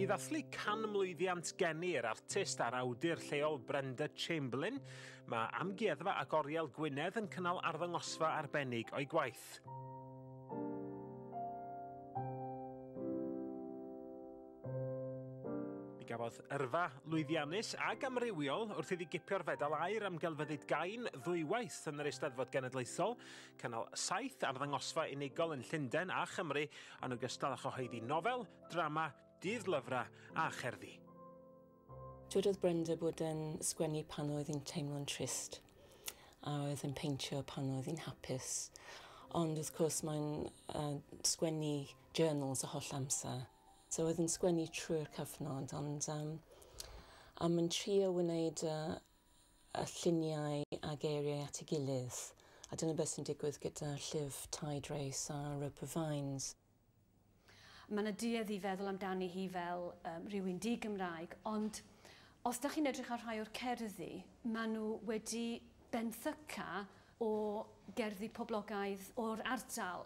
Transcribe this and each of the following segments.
I ddathlu canmlwyddiant geni yr artist a'r awdur lleol Brenda Chamberlain, mae Amgueddfa ac Oriel Gwynedd yn cynnal arddangosfa arbennig o'i gwaith. gafodd yrfa lwyddiannus ac amrywiol wrth iddi gipio'r fedal air am gelfyddyd gain ddwywaith yn yr Eisteddfod Genedlaethol, cynnal saith arddangosfa unigol yn Llundain a Chymru, yn ogystal â chyhoeddi nofel, drama, dydd-lyfrau a cherddi. Dywedodd Brenda bod yn sgwennu pan oedd hi'n teimlo'n trist a oedd yn peintio pan oedd hi'n hapus. Ond wrth cwrs mae'n uh, sgwennu journals y holl amser. So oedd yn sgwennu trwy'r cyfnod ond um, a mae'n trio wneud uh, y lluniau a geiriau at ei gilydd, a dyna beth sy'n digwydd gyda llif Tide Race a Rope of Vines. Mae yna duedd i feddwl amdani hi fel um, rhywun di-Gymraeg, ond os da chi'n edrych ar rhai o'r cerddi, maen nhw wedi benthyca o gerddi poblogaidd o'r ardal.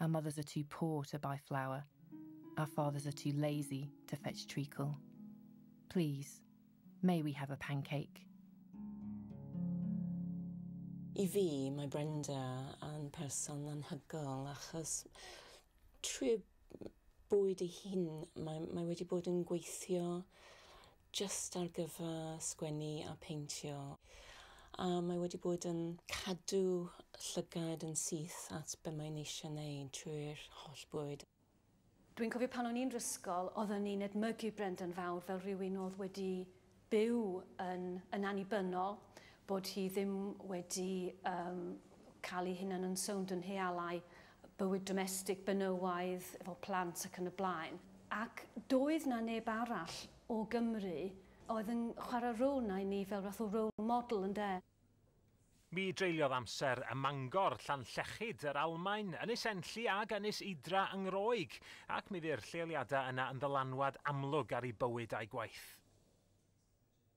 Our mothers are too poor to buy flour, our fathers are too lazy to fetch treacle. Please, may we have a pancake? I fi, mae Brenda yn person anhygoel achos trwy bwyd ei hun, mae, mae wedi bod yn gweithio jyst ar gyfer sgwennu a peintio a mae wedi bod yn cadw llygad yn syth at be mae'n eisiau wneud trwy'r holl bwyd. Dwi'n cofio pan o'n i'n rysgol oedden ni'n edmygu Brendan Fawr fel rhywun oedd wedi byw yn yn annibynnol, bod hi ddim wedi um, cael ei hunan yn sownd yn healau bywyd domestig, benywaidd, efo plant ac yn y blaen. Ac doedd 'na neb arall o Gymru oedd yn chwarae rôl 'na i ni fel fath o role model ynde? Mi dreuliodd amser ym Mangor, Llanllechid, yr Almaen, Ynys Enlli ag Ynys Idra yng Ngroeg, ac mi fu'r lleoliadau yna yn ddylanwad amlwg ar ei bywyd a'i gwaith.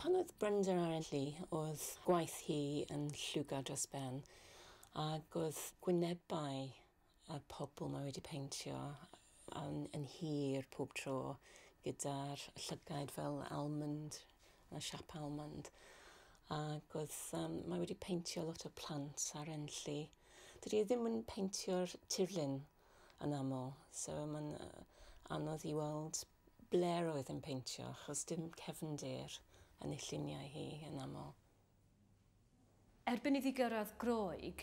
Pan oedd Brenda ar ei lu, oedd gwaith hi yn lliwgar dros ben, ac oedd gwynebau y pobl mae wedi peintio yn, yn hir pob tro, gyda'r llygaid fel almond, y siap almond. Ac oedd, um, mae wedi peintio lot o plant ar enlli. Dydy e ddim yn peintio'r tirlun yn aml, so mae'n uh, anodd i weld Blair oedd yn peintio achos dim cefndir yn ei lluniau hi yn aml. Erbyn iddi gyrraedd Groeg,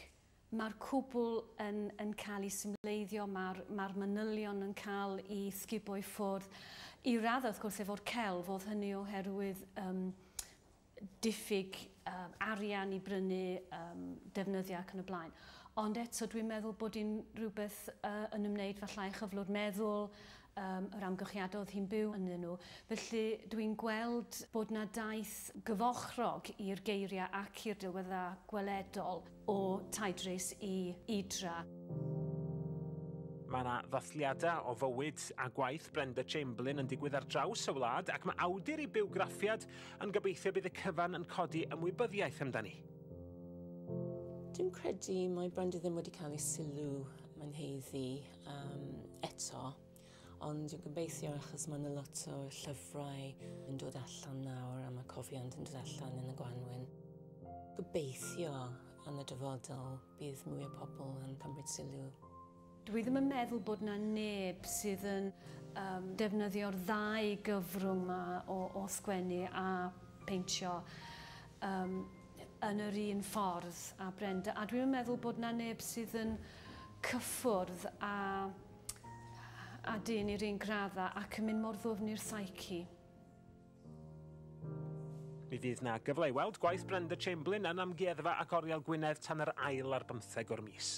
mae'r cwbl yn yn cael ei symleiddio, mae'r mae'r manylion yn cael i sgubo i ffwrdd, i raddau wrth gwrs efo'r celf, oedd hynny oherwydd yym diffyg um, arian i brynu um, defnyddiau ac yn y blaen. Ond eto dwi'n meddwl bod hi'n rhywbeth uh, yn ymwneud falle â chyflwr meddwl, um, yr amgylchiadau oedd hi'n byw ynddyn nhw. Felly dwi'n gweld bod na daith gyfochrog i'r geiriau ac i'r delweddau gweledol. o Tydrys i Idra. Mae yna ddathliadau o fywyd a gwaith Brenda Chamberlain yn digwydd ar draws y wlad ac mae awdur ei bywgraffiad yn gobeithio bydd y cyfan yn codi ymwybyddiaeth amdani. Dwi'n credu mae Brenda ddim wedi cael ei sylw mae'n haeddu um, eto. Ond dwi'n gobeithio achos mae yna lot o llyfrau yn dod allan nawr a mae cofiant yn dod allan yn y gwanwyn. Gobeithio yn y dyfodol bydd mwy o pobl yn cymryd sylw. Dwi ddim yn meddwl bod na neb sydd yn um, defnyddio'r ddau gyfrwng ma o, o sgwennu a peintio um, yn yr un ffordd a Brenda. A dwi'n meddwl bod na neb sydd yn cyffwrdd a a dyn i'r un gradda ac yn mynd mor ddwfn i'r psyche. Mi fydd na gyfle i weld gwaith Brenda Chamberlain yn Amgueddfa ac Oriel Gwynedd tan yr ail ar bymtheg o'r mis.